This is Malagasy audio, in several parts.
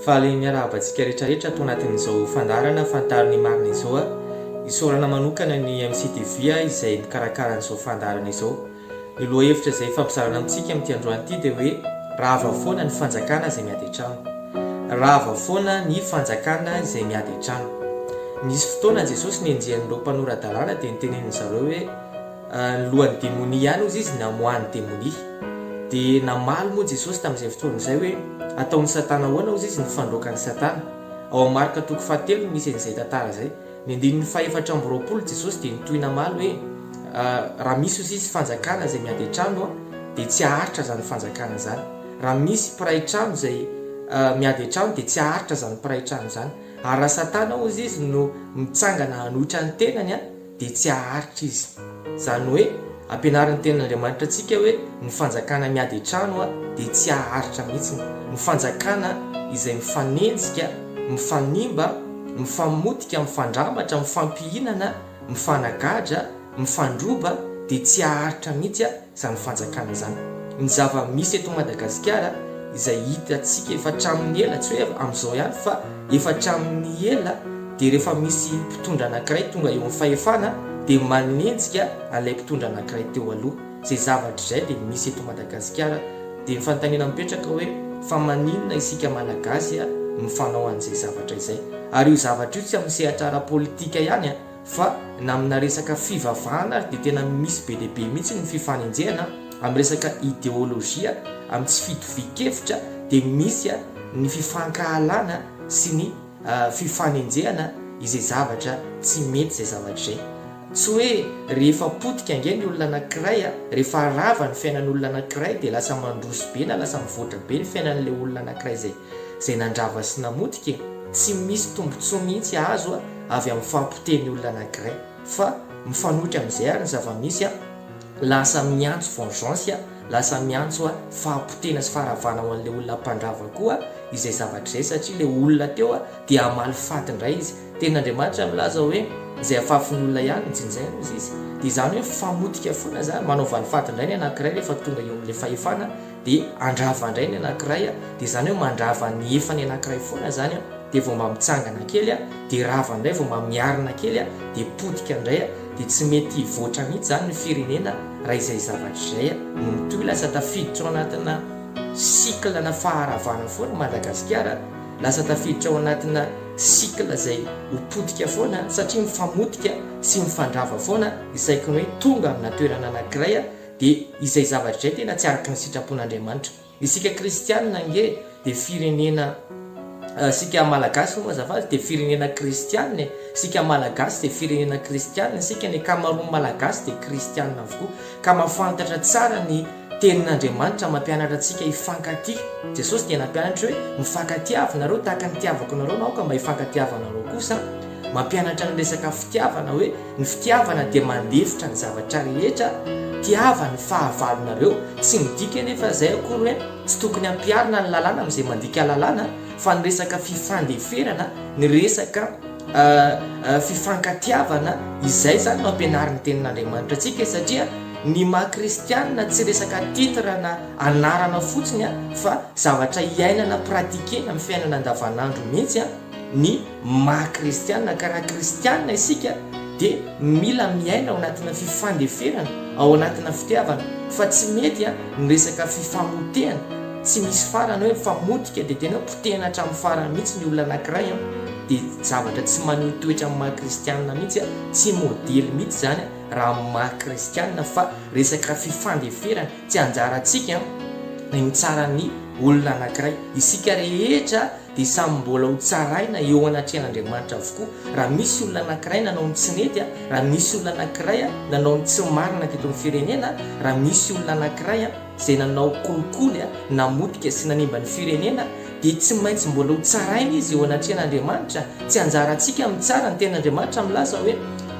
Valian'ny miarahaba antsika rehetrarehetra ato anatin'izao fandaharana Fantaro ny marina izao a! Isaorana manokana ny MCTV izay mikarakara an'izao fandaharana izao. Ny lohahevitra izay ifampizarana amintsika amin'ity androany ity dia hoe Rava foana ny fanjakana izay miady an-trano. Rava foana ny fanjakana izay miady an-trano. Nisy fotoana Jesosy nenjehan'ireo mpanora-dalàna dia niteneniny zareo hoe, ny lohan'ny demonia ihany hozy izy namoahan'ny demonia. Dia namaly moa Jesosy tamin'izay fotoana izay hoe, Ataon'i Satana ahoana hozy izy ny fandroakan'i Satana? Ao amin'ny Marka toko fahatelo no misy an'izay tantara izay. Ny andininy fahefatra amby roapolo Jesosy dia nitohy namaly hoe, Raha misy hozy izy fanjakana izay miady an-trano dia tsy haharitra izany fanjakana izany. Raha misy mpiray trano izay miady an-trano dia tsy haharitra izany mpiray trano izany. Ary raha Satana hozy izy no mitsangana hanohitra ny tenany, dia tsy haharitra izy. Izany hoe, ampianarin'ny Tenin'Andriamanitra antsika hoe ny fanjakana miady an-trano dia tsy haharitra mihitsy. Ny fanjakana izay mifanenjika, mifanimba, mifamotika, mifandramatra, mifampihinana, mifanagadra, mifandroba dia tsy haharitra mihitsy. izany fanjakana izany. Ny zava-misy eto Madagasikara izay hitantsika efa hatramin'ny ela, tsy hoe amin'izao ihany fa efa hatramin'ny ela dia rehefa misy mpitondra anankiray tonga eo amin'ny fahefana dia manenjika an'ilay mpitondra anankiray teo aloha. Izay zavatra izay dia misy eto Madagasikara. Dia ny fanontaniana mipetraka hoe fa maninona isika Malagasy mifanao an'izay zavatra izay? Ary io zavatra io tsy amin'ny sehatra ara-politika ihany. Fa na amina resaka fivavahana ary dia tena misy be dia be mihitsy ny fifanenjehana amin'ny resaka ideolojia, amin'ny tsy fitovian-kevitra dia misy ny fifankahalana sy ny fifanenjehana izay zavatra tsy mety izay zavatra izay. Tsy hoe rehefa potika ange ny olona anankiray, rehefa rava ny fiainan'olona anankiray dia lasa mandroso be na lasa mivoatra be ny fiainan'ilay olona anankiray izay nandrava sy namotika e! Tsy misy tombotsoa mihitsy azo. avy amin'ny fahapotehin'ny olona anankiray fa mifanohitra amin'izay ary ny zava-misy an, lasa miantso vengeance an, lasa miantso an fahapotehina sy faharavana ho an'ilay olona mpandrava koa izay zavatra izay satria ilay olona teo an dia hamaly faty indray izy. Tenin'Andriamanitra milaza hoe izay afafin'ny olona ihany no jinjaina hozy izy. Dia izany hoe famotika foana izany, manao valifaty indray ny anankiray rehefa tonga eo amin'ilay fahefana dia handrava indray ny anankiray a, dia izany hoe mandrava ny efa ny anankiray foana izany a, dia vao mba mitsangana kely a, dia rava indray, vao mba miarina kely a, dia potika indray a, dia tsy mety hivoatra mihitsy izany ny firenena raha izay zavatra izay a, no mitohy lasa tafiditra ao anatina cycle na faharavana foana i Madagasikara, lasa tafiditra ao anatina cycle izay ho potika foana satria mifamotika sy mifandrava foana ny saiko ny hoe tonga amina toerana anankiray a, Dia izay zavatra izay tena tsy araka ny sitrapon'Andriamanitra. Isika kristianina ange dia firenena, isika malagasy hono azafady dia firenena kristianina e, isika malagasy dia firenena kristianina, isika ny ankamaroan'ny malagasy dia kristianina avokoa ka mahafantatra tsara ny tenin'Andriamanitra mampianatra antsika hifankatia. Jesosy dia nampianatra hoe mifankatiava nareo tahaka ny nitiavako anareo aho ka mba hifankatiava anareo kosa. Mampianatra ny resaka fitiavana hoe. Ny fitiavana dia mandefitra ny zavatra rehetra, tiava ny fahavalonareo, tsy midika anefa izay akory hoe tsy tokony hampiharina ny lalàna amin'izay mandika lalàna fa ny resaka fifandeferana, ny resaka fifankatiavana, izay izany no ampianarin'ny tenin'Andriamanitra antsika satria ny maha kristianina tsy resaka titre na anarana fotsiny fa zavatra iainana, pratiquer-na amin'ny fiainana andavanandro mihitsy ny maha kristiana ka raha kristiana isika dia mila miaina ao anatina fifandeferana, ao anatina fitiavana fa tsy mety an ny resaka fifamotehana tsy misy farany hoe mifamotika dia tena hoe potehina hatramin'ny farany mihitsy ny olona anakiray an dia zavatra tsy maneho toetra amin'ny maha kristiana mihitsy an tsy modely mihitsy izany an raha amin'ny maha kristiana fa resaka fifandeferana tsy anjarantsika an ny tsaran'ny olona anakiray isika rehetra dia samy mbola ho tsaraina eo anatrehan'Andriamanitra avokoa raha misy olona anankiray nanao ny tsy nety a, raha misy olona anankiray a nanao ny tsy marina teto amin'ny firenena a, raha misy olona anankiray a izay nanao kolikoly a, namotika sy nanimba ny firenena dia tsy maintsy mbola ho tsaraina izy eo anatrehan'Andriamanitra, tsy anjarantsika mitsara, ny tenin'Andriamanitra milaza hoe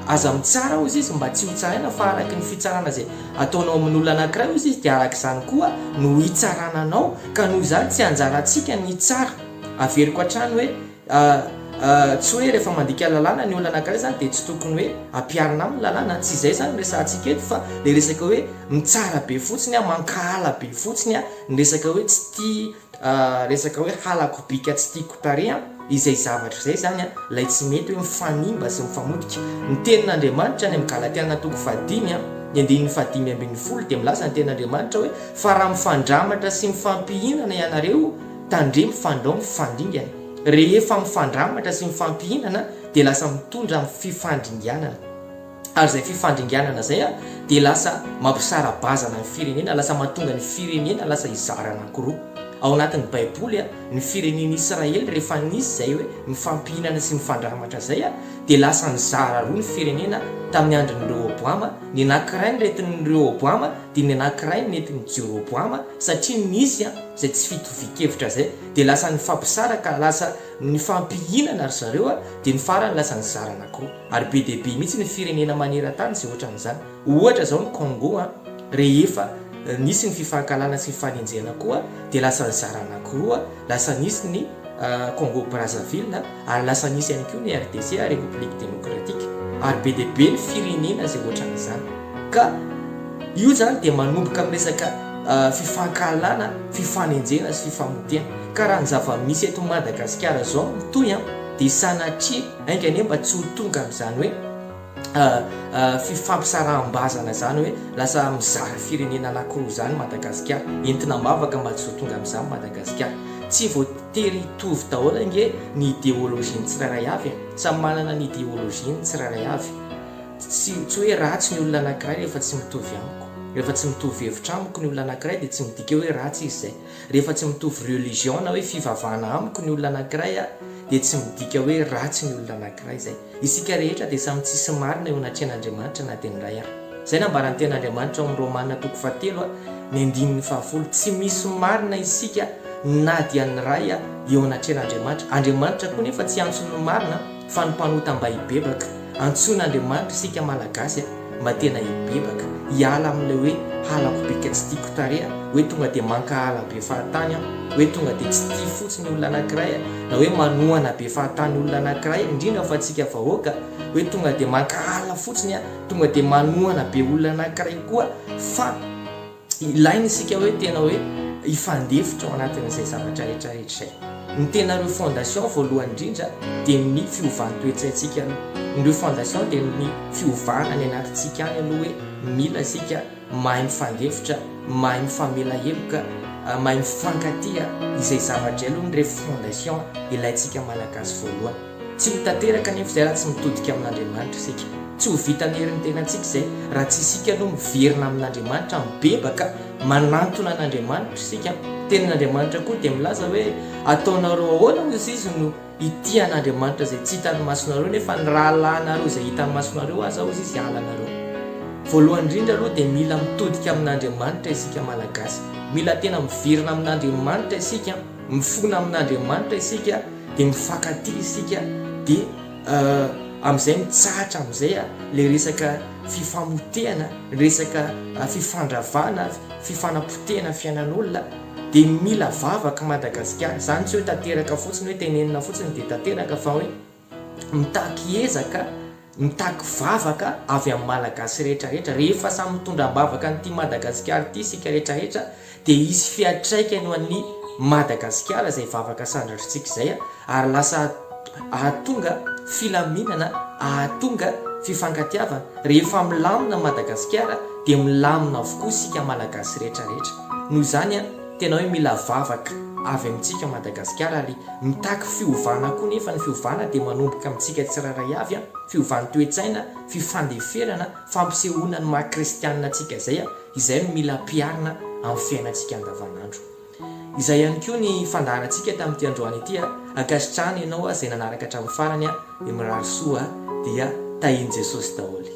aza mitsara hozy izy mba tsy ho tsaraina fa araky ny fitsarana izay Ataonao amin'ny olona anankiray ozy izy dia araka izany koa no hitsarana anao ka noho izany tsy anjarantsika ny hitsara. Averiko hatrany hoe tsy hoe rehefa mandika lalàna ny olona anankiray izany dia tsy tokony hoe ampiharina aminy ny lalàna, tsy izay izany no resahantsika eto fa ilay resaka hoe mitsara be fotsiny, mankahala be fotsiny ny resaka hoe tsy tia Resaka hoe halako bika tsy tiako tarehy an, izay zavatra izay izany an, ilay tsy mety hoe mifanimba sy mifamotika. Ny tenin'Andriamanitra any amin'ny Galatiana toko fahadimy an, ny andininy fahadimy ambin'ny folo dia milaza ny tenin'Andriamanitra hoe, fa raha mifandramatra sy mifampihinana ianareo, tandremo fandrao mifandringana. Rehefa mifandramatra sy mifampihinana dia lasa mitondra amin'ny fifandringanana. ary izay fifandringanana izay dia lasa mampisara-bazana ny firenena, lasa mahatonga ny firenena lasa hizara anankiroa. Ao anatin'ny Baiboly, ny firenen'i Israely rehefa nisy izay hoe mifampihinana sy mifandramatra izay dia lasa nizara roa ny firenena tamin'ny andron'i Rehoboama, ny anankiray ny nentin'i Rehoboama dia ny anankiray ny nentin'i Jeroboama satria nisy izay tsy fitovian-kevitra izay dia lasa nifampisaraka, lasa nifampihinana ry zareo dia ny farany lasa nizara anankiroa. Ary be dia be mihitsy ny firenena maneran-tany izay ohatran'izany. Ohatra izao ny Congo an, rehefa nisy ny fifankahalana sy nifanenjehana koa dia lasa nizara anankiroa, lasa nisy ny Congo Brazzaville ary lasa nisy ihany koa ny RDC, République Démocratique. Ary be dia be ny firenena izay ohatran'izany. Ka io izany dia manomboka amin'ny resaka fifankahalana, fifanenjehana sy fifamotehana. Ka raha ny zava-misy eto Madagasikara izao no mitohy dia sanatria Enga anie mba tsy ho tonga amin'izany hoe fifampisaraham-bazana izany hoe lasa mizara firenena anankiroa izany Madagasikara. Entina am-bavaka mba tsy ho tonga amin'izany Madagasikara. Tsy voatery hitovy daholo ange ny ideologie-n'ny tsirairay avy e! Samy manana ny ideologie-ny ny tsirairay avy. Tsy tsy hoe ratsy ny olona anankiray rehefa tsy mitovy amiko. Rehefa tsy mitovy hevitra amiko ny olona anankiray dia tsy midika hoe ratsy izy izay. Rehefa tsy mitovy religion na hoe fivavahana amiko ny olona anankiray aho dia tsy midika hoe ratsy ny olona anankiray izay. Isika rehetra dia samy tsisy marina eo anatrehan'Andriamanitra na dia ny iray ary. Izay nambaran'ny Tenin'Andriamanitra ao amin'ny Romana toko fahatelo a, ny andininy fahafolo, tsy misy marina isika na dia ny iray eo anatrehan'Andriamanitra. Andriamanitra koa nefa tsy antso ny marina. Fa ny mpanota mba hibebaka. Antsoina Andriamanitra isika Malagasy a! Mba tena hibebaka, hiala amin'ilay hoe halako be ka tsy tiako tarehy a! Hoe tonga dia mankahala be fahatany aho, hoe tonga dia tsy tia fotsiny olona anankiray a! Na hoe manohana be fahatany olona anankiray, indrindra fa antsika vahoaka, hoe tonga dia mankahala fotsiny a! Tonga dia manohana be olona anankiray koa fa. Ilaina isika hoe tena hoe hifandefitra ao anatin'izay zavatra rehetra rehetra izay. Ny tena ireo fondation voalohany indrindra dia ny fiovan'ny toe-tsaintsika aloha. Ny ireo fondation dia ny fiovana any anatintsika any aloha hoe mila isika mahay mifandefitra, mahay mifamela heloka, mahay mifankatia izay zavatra izay aloha ny ireo fondation ilaintsika Malagasy voalohany. Tsy ho tanteraka anefa izay raha tsy mitodika amin'Andriamanitra isika. Tsy ho vitan'ny herin'ny tenantsika izay raha tsy isika aloha miverina amin'Andriamanitra, mibebaka, manantona an'Andriamanitra isika. Ny Tenin'Andriamanitra koa dia milaza hoe, Ataonareo ahoana hoy Izy no hitia an'Andriamanitra izay tsy hitan'ny masonareo nefa ny rahalahinareo izay hitan'ny masonareo aza hoy Izy halanareo. Voalohany indrindra aloha dia mila mitodika amin'Andriamanitra isika Malagasy. Mila tena miverina amin'Andriamanitra isika. Mifona amin'Andriamanitra isika dia mifankatia isika dia amin'izay mitsahatra amin'izay ilay resaka fifamotehana, ny resaka fifandravana, fifanapotehana fiainan'olona dia mila vavaka Madagasikara. Izany tsy hoe tanteraka fotsiny hoe tenenina fotsiny dia tanteraka fa hoe. Mitaky ezaka, mitaky vavaka avy amin'ny Malagasy rehetra rehetra. Rehefa samy mitondra am-bavaka an'ity Madagasikara ity isika rehetra rehetra dia hisy fiantraikany ho an'ny Madagasikara izay vavaka sandratr'tsika izay ary lasa ahatonga filaminana, ahatonga fifankatiavana. Rehefa milamina Madagasikara dia milamina avokoa isika Malagasy rehetra rehetra. Noho izany, Tena hoe mila vavaka avy amintsika Madagasikara ary mitaky fiovana koa nefa ny fiovana dia manomboka amintsika tsirairay avy a! Fiovan-toetsaina, fifandeferana, fampisehoana ny maha kristianina antsika izay a! Izay no mila ampiharina amin'ny fiainantsika andavanandro. Izay ihany koa ny fandaharantsika tamin'ity androany ity a! Ankasitrahana ianao a! Izay nanaraka hatramin'ny farany a! Dia mirary soa a! Dia tahian'i Jesosy daholo.